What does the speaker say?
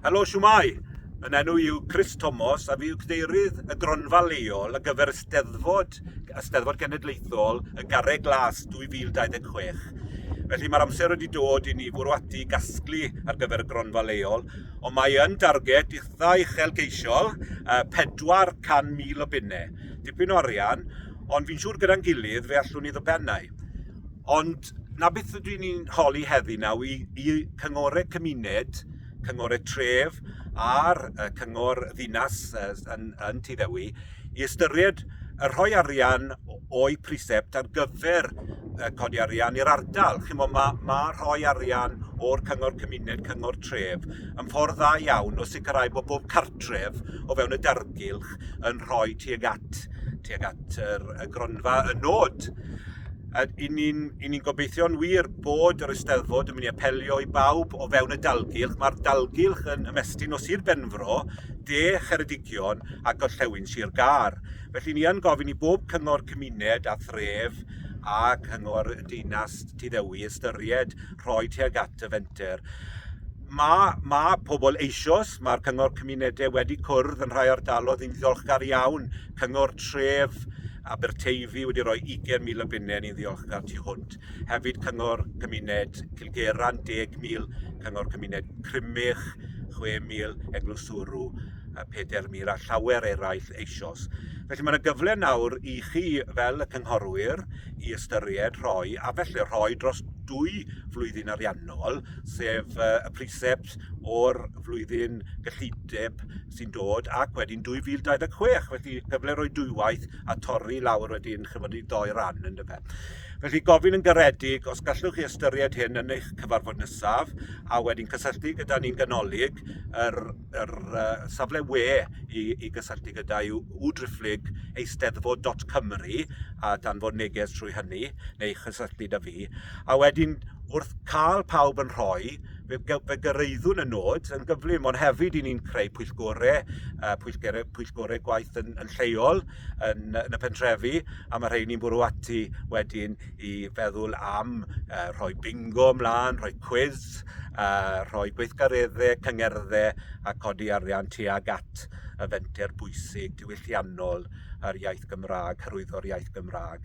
Helo, siwmai! Yn enw yw Chris Thomas a fi yw cadeirydd y gronfa leol ar gyfer y Steddfod, y Steddfod Genedlaethol y Garreg Glas 2026. Felly mae'r amser wedi dod i ni fwrw ati gasglu ar gyfer y gronfa leol, ond mae yn darged eitha uchelgeisiol, uh, 400,000 o bunnau. Dipyn o arian, ond fi'n siŵr gyda'n gilydd fe allwn ni ddibennau. Ond 'na beth ydw i'n holi heddi nawr i, i cyngorau cymuned, cyngorau tref a'r uh, cyngor ddinas uh, yn, yn Tyddewi i ystyried y rhoi arian o'i prisept ar gyfer uh, codi arian i'r ardal. Chi'n mo, mae ma rhoi arian o'r cyngor cymuned, cyngor tref, yn ffordd dda iawn o sicrhau bod bob cartref o fewn y dargylch yn rhoi tuag at, tuag at yr, y gronfa y nod. A i ni'n i ni gobeithio'n wir bod yr Eisteddfod yn mynd i apelio i bawb o fewn y dalgylch. Mae'r dalgylch yn ymestyn o Sir Benfro, de Cheredigion a gorllewin Sir Gar. Felly ni yn gofyn i bob cyngor cymuned a thref a cyngor y deinas Tyddewi ystyried rhoi tuag at y fenter. Mae, mae pobl eisoes, mae'r cyngor cymunedau wedi cwrdd yn rhai ardalodd yn ddiolchgar iawn, cyngor tref, Aberteifi wedi rhoi 20,000 o bunnau ni'n ddiolchgar tu hwnt. Hefyd Cyngor Cymuned Cilgeran 10,000, Cyngor Cymuned Crymych 6,000, Eglwys Sŵrw 4,000 a llawer eraill eisoes. Felly mae'n gyfle nawr i chi fel y cynghorwyr i ystyried rhoi a felly rhoi dros dwy flwyddyn ariannol, sef y precept o'r flwyddyn gyllideb sy'n dod ac wedyn 2026. Felly cyfle roi dwywaith a torri i lawr wedyn chymod i ddoi ran yn dyfe. Felly gofyn yn garedig os gallwch chi ystyried hyn yn eich cyfarfod nesaf a wedyn cysylltu gyda ni'n ganolig yr, yr uh, safle we i, i gysylltu gyda yw wdrifflig eisteddfod.cymru a danfod neges trwy hynny neu chysylltu da fi. A wedyn wrth cael pawb yn rhoi fe, fe gyrraeddwn y nod yn gyflym, ond hefyd i ni'n creu pwyllgorau, uh, pwyllgorau, pwyllgorau gwaith yn, yn lleol yn, yn y pentrefi, a mae rhai ni'n bwrw ati wedyn i feddwl am uh, rhoi bingo ymlaen, rhoi quiz, uh, rhoi gweithgareddau, cyngerddau a codi arian tuag at y fenter bwysig diwylliannol yr iaith Gymraeg, hyrwyddo'r iaith Gymraeg.